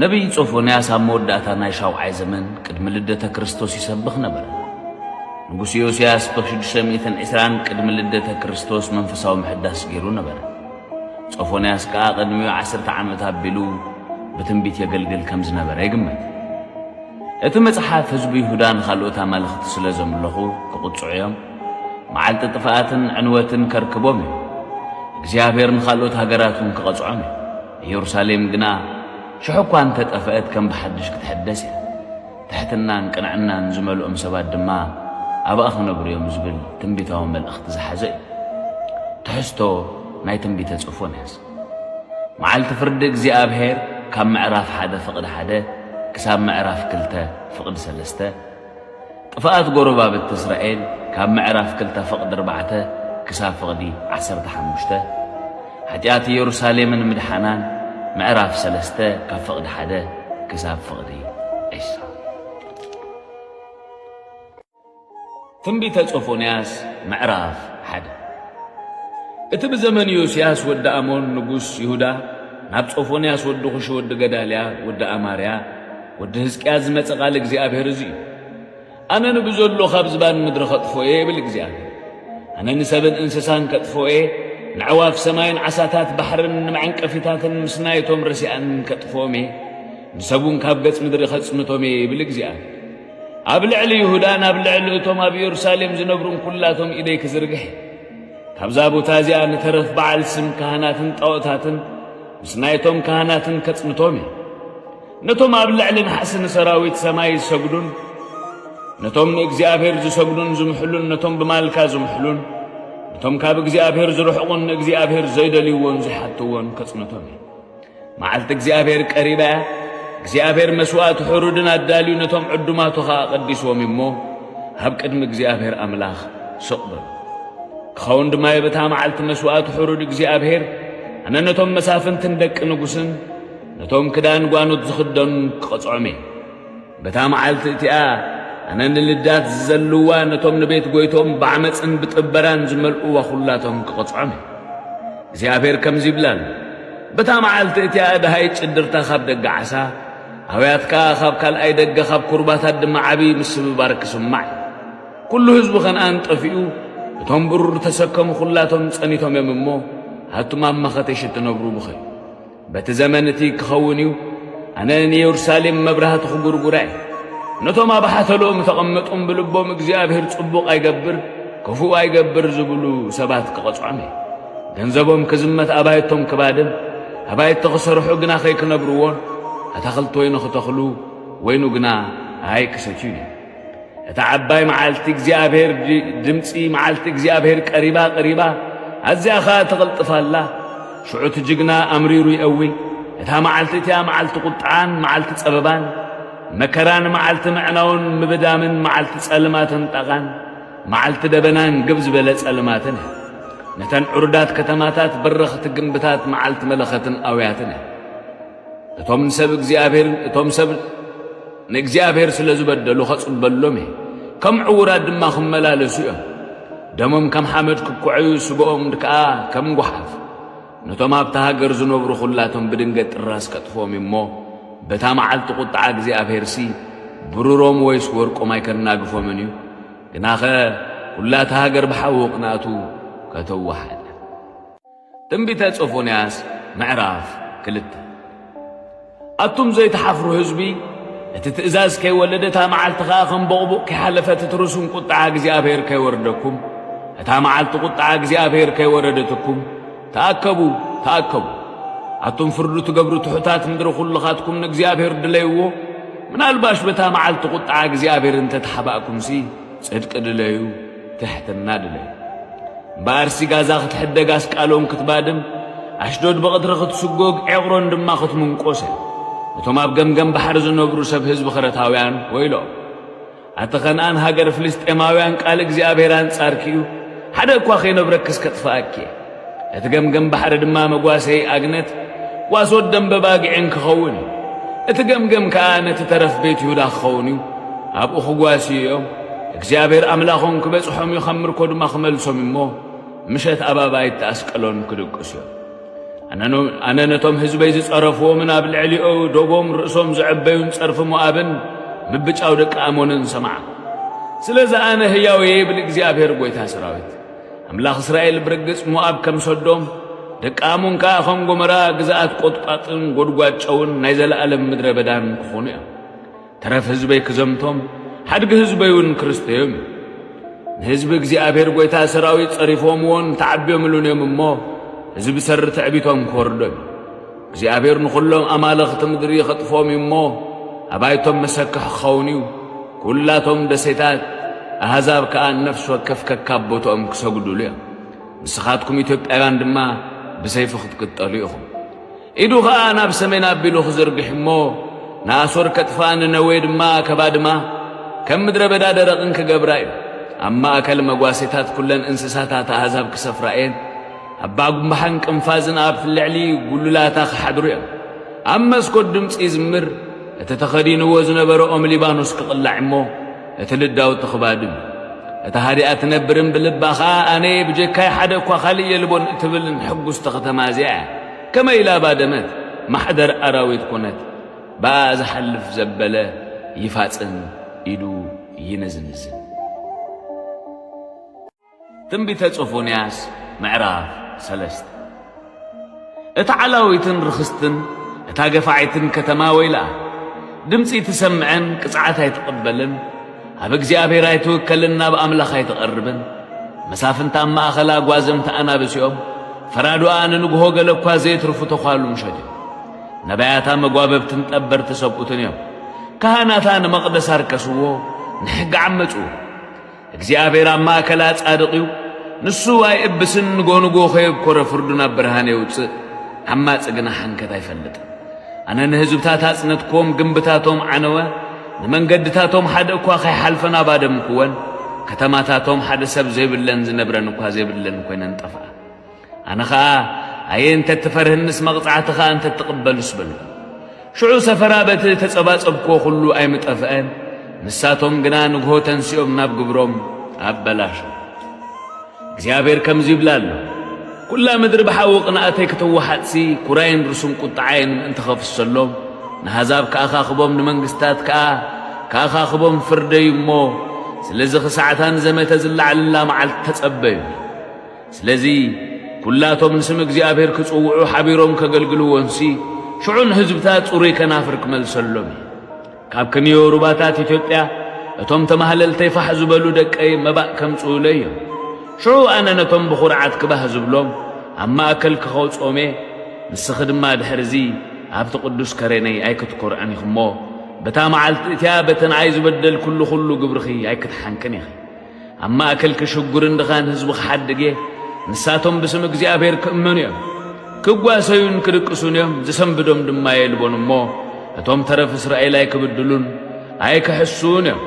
ነቢይ ጾፎንያስ ኣብ መወዳእታ ናይ ሻውዓይ ዘመን ቅድሚ ልደተ ክርስቶስ ይሰብኽ ነበረ። ንጉስ ዮስያስ ብ620 ቅድሚ ልደተ ክርስቶስ መንፈሳዊ ምሕዳስ ገይሩ ነበረ። ጾፎንያስ ከኣ ቅድሚኡ ዓሰርተ ዓመት ኣቢሉ ብትንቢት የገልግል ከም ዝነበረ ይግመት። እቲ መጽሓፍ ህዝቢ ይሁዳ ንኻልኦት ኣማልኽቲ ስለ ዘምለኹ ክቕጽዑ እዮም፣ መዓልቲ ጥፍኣትን ዕንወትን ከርክቦም እዩ፣ እግዚኣብሄር ንኻልኦት ሃገራት እውን ክቐጽዖም እዩ፣ ኢየሩሳሌም ግና ሽሕ እኳ እንተ ጠፍአት ከም ብሓድሽ ክትሕደስ እያ፣ ትሕትናን ቅንዕናን ዝመልኦም ሰባት ድማ ኣብኣ ክነብሩ እዮም ዝብል ትንቢታዊ መልእኽቲ ዝሓዘ እዩ። ትሕዝቶ ናይ ትንቢተ ጽርፎንያስ። መዓልቲ ፍርዲ እግዚኣብሔር ካብ ምዕራፍ ሓደ ፍቕዲ ሓደ ክሳብ ምዕራፍ ክልተ ፍቕዲ ሰለስተ፣ ጥፍኣት ጎረባብቲ እስራኤል ካብ ምዕራፍ ክልተ ፍቕዲ ኣርባዕተ ክሳብ ፍቕዲ ዓሰርተ ሓሙሽተ፣ ሓጢኣት ኢየሩሳሌምን ምድሓናን ምዕራፍ ሰለስተ ካብ ፍቕዲ ሓደ ክሳብ ፍቕዲ ዒስራ። ትንቢተ ጾፎንያስ ምዕራፍ ሓደ እቲ ብዘመን ዮስያስ ወዲ ኣሞን ንጉስ ይሁዳ ናብ ጾፎንያስ ወዲ ኹሺ ወዲ ገዳልያ ወዲ ኣማርያ ወዲ ህዝቅያስ ዝመጸ ቃል እግዚኣብሔር እዚ እዩ። ኣነ ንብዘሎ ካብ ዝባን ምድሪ ከጥፎ እየ ይብል እግዚኣብሔር። ኣነ ንሰብን እንስሳን ከጥፎ እየ፣ ንዕዋፍ ሰማይን ዓሳታት ባሕርን ንመዐንቀፊታትን ምስ ናይቶም ረሲኣን ከጥፎም እየ፣ ንሰቡን ካብ ገጽ ምድሪ ከጽንቶም እየ ይብል እግዚኣብሔር። ኣብ ልዕሊ ይሁዳን ኣብ ልዕሊ እቶም ኣብ ኢየሩሳሌም ዝነብሩን ኩላቶም ኢደይ ክዝርግሕ እየ። ካብዛ ቦታ እዚኣ ንተረፍ በዓል ስም ካህናትን ጣዖታትን ምስ ናይቶም ካህናትን ከጽንቶም እየ። ነቶም ኣብ ልዕሊ ናሕሲ ንሰራዊት ሰማይ ዝሰግዱን ነቶም ንእግዚኣብሔር ዝሰግዱን ዝምሕሉን ነቶም ብማልካ ዝምሕሉን ነቶም ካብ እግዚኣብሔር ዝርሕቑን ንእግዚኣብሔር ዘይደልይዎን ዝሓትዎን ከጽንቶም እየ። መዓልቲ እግዚኣብሔር ቀሪባ እያ። እግዚኣብሔር መስዋእቲ ሕሩድን ኣዳልዩ ነቶም ዕዱማቱ ኸዓ ቀዲስዎም እሞ ኣብ ቅድሚ እግዚኣብሔር ኣምላኽ ስቕ በሉ። ክኸውን ድማ የብታ መዓልቲ መስዋእቲ ሕሩድ እግዚኣብሔር ኣነ ነቶም መሳፍንትን ደቂ ንጉስን ነቶም ክዳን ጓኖት ዝኽደኑን ክቐጽዖም እየ። በታ መዓልቲ እቲኣ ኣነ ንልዳት ዝዘልዋ ነቶም ንቤት ጐይትኦም ብዓመጽን ብጥበራን ዝመልእዋ ዅላቶም ክቕጽዖም እየ። እግዚኣብሄር ከምዚ ይብል ኣሎ፣ በታ መዓልቲ እቲኣ ደሃይ ጭድርታ ኻብ ደገ ዓሳ፣ ኣውያት ከኣ ኻብ ካልኣይ ደገ፣ ካብ ኵርባታት ድማ ዓብዪ ምስብባር ክስማዕ እዩ። ኵሉ ህዝቢ ኸንኣን ጠፊኡ፣ እቶም ብሩር እተሰከሙ ዅላቶም ጸኒቶም እዮም እሞ፣ ኣቱም ኣብ መኸቴሽ እትነብሩ ብኸዩ። በቲ ዘመን እቲ ክኸውን እዩ፣ ኣነ ንየሩሳሌም መብራህቲ ክጉርጉራ እየ። ነቶም ኣብ ሓተሎም ተቐመጡም ብልቦም እግዚኣብሔር ጽቡቕ ኣይገብር ክፉእ ኣይገብር ዝብሉ ሰባት ክቐጽዖም እየ። ገንዘቦም ክዝመት ኣባይቶም ክባድም ኣባይቲ ክሰርሑ ግና ከይክነብርዎን ኣታኽልቲ ወይኑ ክተኽሉ ወይኑ ግና ኣይክሰትዩን እዮም። እታ ዓባይ መዓልቲ እግዚኣብሔር ድምፂ መዓልቲ እግዚኣብሔር ቀሪባ ቀሪባ ኣዚያ ኸኣ ትቕልጥፍ ኣላ ሽዑ እቲ ጅግና ኣምሪሩ የእዊ እታ መዓልቲ እቲኣ መዓልቲ ቁጥዓን መዓልቲ ጸበባን መከራን መዓልቲ ምዕናውን ምብዳምን መዓልቲ ጸልማትን ጣቓን መዓልቲ ደበናን ግብ ዝበለ ጸልማትን እያ ነተን ዕሩዳት ከተማታት በረኽቲ ግንብታት መዓልቲ መለኸትን ኣውያትን እያ እቶም ንሰብ እግዚኣብሔርን እቶም ሰብ ንእግዚኣብሔር ስለ ዝበደሉ ኸጽበሎም እየ፣ ከም ዕዉራት ድማ ኽመላለሱ እዮም። ደሞም ከም ሓመድ ክኩዐዩ፣ ስግኦም ከኣ ከም ጓሓፍ። ነቶም ኣብታ ሃገር ዝነብሩ ዅላቶም ብድንገት ጥራስ ከጥፍኦም እዩ እሞ፣ በታ መዓልቲ ቝጥዓ እግዚኣብሔርሲ ብሩሮም ወይስ ወርቆም ኣይከናግፎምን እዩ። ግናኸ ኵላ እታ ሃገር ብሓዊ ቕንኣቱ ከተዋሕጥ እያ። ትንቢተ ሶፎንያስ ምዕራፍ ክልተ ኣቱም ዘይትሓፍሩ ህዝቢ እቲ ትእዛዝ ከይወለደ እታ መዓልቲ ኸኣ ከም ቦቕቡቕ ከይሓለፈት እትርሱን ቁጥዓ እግዚኣብሔር ከይወርደኩም እታ መዓልቲ ቁጥዓ እግዚኣብሔር ከይወረደትኩም ተኣከቡ ተኣከቡ ኣቱም ፍርዱ ትገብሩ ትሑታት ምድሪ ዅልኻትኩም ንእግዚኣብሔር ድለይዎ ምናልባሽ በታ መዓልቲ ቝጥዓ እግዚኣብሔር እንተ ተሓባእኩምሲ ጽድቂ ድለዩ ትሕትና ድለዩ እምበኣርሲ ጋዛ ክትሕደግ ኣስቃሎን ክትባድም ኣሽዶድ ብቕትሪ ክትስጎግ ዔቕሮን ድማ ክትምንቆሰ እቶም ኣብ ገምገም ባሕሪ ዝነብሩ ሰብ ህዝቢ ክረታውያን ወይሎም ኣቲ ኸነኣን ሃገር ፍልስጤማውያን ቃል እግዚኣብሔር ኣንጻርኪ እዩ ሓደ እኳ ኸይነብረክስ ከጥፍኣኪ እየ እቲ ገምገም ባሕሪ ድማ መጓሰይ ኣግነት፣ ጓሶት ደምበ ባግዒን ኪኸውን እዩ። እቲ ገምገም ከኣ ነቲ ተረፍ ቤት ይሁዳ ኪኸውን እዩ፣ ኣብኡ ኺጓስዩ እዮም፣ እግዚኣብሄር ኣምላኾም ኪበጽሖም እዩ፣ ኸም ምርኮ ድማ ኺመልሶም እዩ እሞ፣ ምሸት ኣብ ኣባይቲ ኣስቀሎን ኪድቅሱ እዮም። ኣነ ነቶም ህዝበይ ዝጸረፍዎምን ኣብ ልዕሊኦ ዶቦም ርእሶም ዘዕበዩን ጸርፊ ሞኣብን ምብጫው ደቂ ኣሞንን ሰማዕ። ስለዚ ኣነ ህያው እየ ይብል እግዚኣብሔር ጐይታ ሰራዊት። ኣምላኽ እስራኤል ብርግጽ ሞኣብ ከም ሰዶም ደቂ ኣሞን ከኣ ኸም ጎመራ ግዝኣት ቈጥቋጥን ጐድጓድ ጨውን ናይ ዘለኣለም ምድረ በዳን ክኾኑ እዮም ተረፍ ህዝበይ ክዘምቶም ሓድጊ ህዝበይውን ክርስተዮም እዩ ንህዝቢ እግዚኣብሔር ጐይታ ሰራዊት ጸሪፎምዎን ተዓቢዮምሉን እዮም እሞ ህዝቢ ሰሪ ትዕቢቶም ክወርዶም እዩ እግዚኣብሔር ንዅሎም ኣማልኽቲ ምድሪ ኸጥፍኦም እዩ እሞ፣ ኣባይቶም መሰክሕ ክኸውን እዩ። ኵላቶም ደሴታት ኣህዛብ ከኣ ነፍሲ ወከፍ ከካብ ቦትኦም ክሰግዱሉ እዮም። ንስኻትኩም ኢትዮጵያውያን ድማ ብሰይፊ ክትቅጠሉ ኢኹም። ኢዱ ኸኣ ናብ ሰሜን ኣቢሉ ክዝርግሕ እሞ ንኣሶር ከጥፋ ንነዌ ድማ ከባድማ ከም ምድረ በዳ ደረቕን ክገብራ እዩ ኣብ ማእከል መጓሴታት ኩለን እንስሳታት ኣህዛብ ክሰፍራ እየን ኣብ ባጉምባሓን ቅንፋዝን ኣብ ልዕሊ ጉሉላታ ክሓድሩ እዮም። ኣብ መስኮት ድምጺ ይዝምር፣ እቲ ተኸዲንዎ ዝነበረ ኦም ሊባኖስ ክቕላዕ እሞ እቲ ልዳውቲ ክባድም እታ ሃዲኣ ትነብርን ብልባ ኸኣ ኣነ ብጀካይ ሓደ እኳ ካልእ የልቦን እትብልን ሕጉስቲ ከተማ እዚኣ እያ። ከመይ ኢላ ባደመት፣ ማሕደር ኣራዊት ኮነት። ብኣ ዝሓልፍ ዘበለ ይፋጽን፣ ኢዱ ይንዝንዝን። ትንቢተ ጾፎንያስ ምዕራፍ ሰለስተ እታ ዓላዊትን ርኽስትን እታ ገፋዒትን ከተማ ወይልኣ ድምፂ ትሰምዐን ቅፅዓት ኣይትቕበልን ኣብ እግዚኣብሔር ኣይትውከልን ናብ ኣምላኽ ኣይትቐርብን መሳፍንት ኣብ ማእኸላ ጓዘምቲ ኣናብስ እዮም ፈራዱኣ ንንግሆ ገለ እኳ ዘይትርፉ ተዃሉ ምሸት እዮም ነባያታ መጓበብትን ጠበርቲ ሰብኡትን እዮም ካህናታ ንመቕደስ ኣርከስዎ ንሕጊ ዓመፁ እግዚኣብሔር ኣብ ማእከላ ጻድቕ እዩ፣ ንሱ ኣይእብስን፣ ንጎንጎ ከየብኮረ ፍርዱ ናብ ብርሃን የውጽእ፣ ዓማጽ ግና ሓንከት ኣይፈልጥን። ኣነ ንህዝብታት ኣጽነትክዎም፣ ግምብታቶም ዓነወ፣ ንመንገድታቶም ሓደ እኳ ከይሓልፈን ኣባደምክወን፣ ከተማታቶም ሓደ ሰብ ዘይብለን ዝነብረን እኳ ዘይብለን ኮይነን ጠፍኣ። ኣነ ኸኣ፣ ኣየ እንተ እትፈርህንስ መቕጻዕትኻ እንተ እትቕበልስ በልኩ። ሽዑ ሰፈራ በቲ እተጸባጸብክዎ ዅሉ ኣይምጠፍአን፣ ንሳቶም ግና ንግሆ ተንሲኦም ናብ ግብሮም ኣበላሸዉ። እግዚኣብሄር ከምዚ ይብል ኣሎ፣ ኵላ ምድሪ ብሓዊ ቕንኣተይ ክትወሓጥሲ፣ ኵራይን ርሱን ቍጥዓይን ምእንቲ ኸፍሰሎም፣ ንኣህዛብ ከኣኻኽቦም ንመንግስትታት ከኣ ከኣኻኽቦም ፍርደይ እሞ፣ ስለዚ ኽሳዕ'ታ ንዘመተ ዝለዓለላ መዓልቲ ተጸበዩኒ። ስለዚ ኩላቶም ንስም እግዚኣብሔር ክጽውዑ ሓቢሮም ከገልግልዎንሲ ሽዑ ንህዝብታት ጽሩይ ከናፍር ክመልሰሎም እዩ። ካብ ክንዮ ሩባታት ኢትዮጵያ እቶም ተማህለልተይ ፋሕ ዝበሉ ደቀይ መባእ ከምጽኡለይ እዮም። ሽዑ ኣነ ነቶም ብኹርዓት ክባህ ዝብሎም ኣብ ማእከል ክኸውጾም እየ። ንስኺ ድማ ድሕርዚ ኣብቲ ቅዱስ ከረነይ ኣይክትኮርዕን ኢኺሞ በታ መዓልቲ እቲኣ በተንኣይ ዝበደልኩሉ ኩሉ ግብርኺ ኣይክትሓንቅን ኢኺ። ኣብ ማእከል ክሽጉርን ድኻን ህዝቡ ክሓድግ እየ። ንሳቶም ብስም እግዚኣብሔር ክእመኑ እዮም፣ ክጓሰዩን ክድቅሱን እዮም፣ ዝሰንብዶም ድማ የልቦን እሞ፣ እቶም ተረፍ እስራኤል ኣይክብድሉን ኣይክሕሱን እዮም፣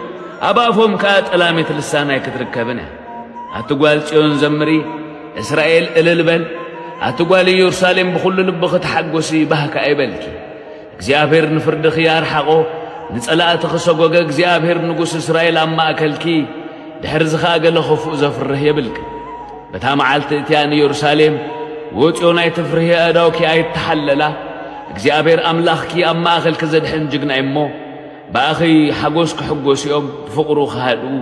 ኣብ ኣፎም ከኣ ጠላሚት ልሳን ኣይክትርከብን እያ። ኣቲ ጓል ጽዮን ዘምሪ፣ እስራኤል እልል በል፣ ኣቲ ጓል ኢየሩሳሌም ብኹሉ ልብኺ ተሓጐሲ፣ ባህ ከኣ ይበልኪ። እግዚኣብሔር ንፍርድኺ ኣርሓቖ፣ ንጸላእትኺ ሰጎገ፣ እግዚኣብሔር ንጉስ እስራኤል ኣብ ማእከልኪ፣ ድሕርዚ ኸኣ ገለ ኽፉእ ዘፍርህ የብልክን። በታ መዓልቲ እቲኣ ንየሩሳሌም ወጽዮን ኣይትፍርሂ፣ ኣእዳውኪ ኣይተሓለላ፣ እግዚኣብሔር ኣምላኽኪ ኣብ ማእከልኪ ዘድሕን ጅግና እዩ'ሞ፣ ብኣኺ ሓጎስ ክሕጎሱ እዮም፣ ብፍቕሩ ኽሃድኡ፣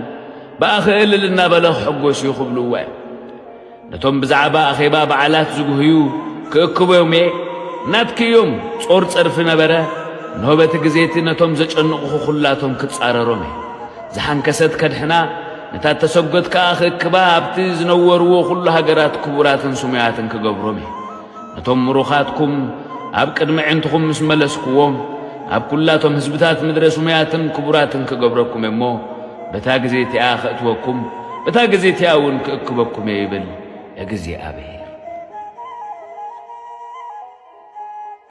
ብኣኺ እልል እናበለ ኽሕጎስ እዩ ክብልዎ እዮም። ነቶም ብዛዕባ ኣኼባ በዓላት ዝጉህዩ ክእክቦም'የ፣ ናትኪ እዮም፣ ጾር ጸርፊ ነበረ፣ እንሆ በቲ ግዜ'ቲ ነቶም ዘጨንቑኹ ኹላቶም ክጻረሮም'የ። ዝሓንከሰት ከድሕና፣ ነታ እተሰጐት ከኣ ክእክባ ኣብቲ ዝነወርዎ ኹሉ ሃገራት ክቡራትን ስሙያትን ክገብሮም'የ። ነቶም ምሩኻትኩም ኣብ ቅድሚ ኣዒንትኹም ምስ መለስኩዎም፣ ኣብ ኵላቶም ህዝብታት ምድረ ስሙያትን ክቡራትን ክገብረኩም እየ እሞ፣ በታ ግዜ እቲኣ ኸእትወኩም፣ በታ ግዜ እቲኣ እውን ክእክበኩም እየ ይብል እግዚኣብሄር።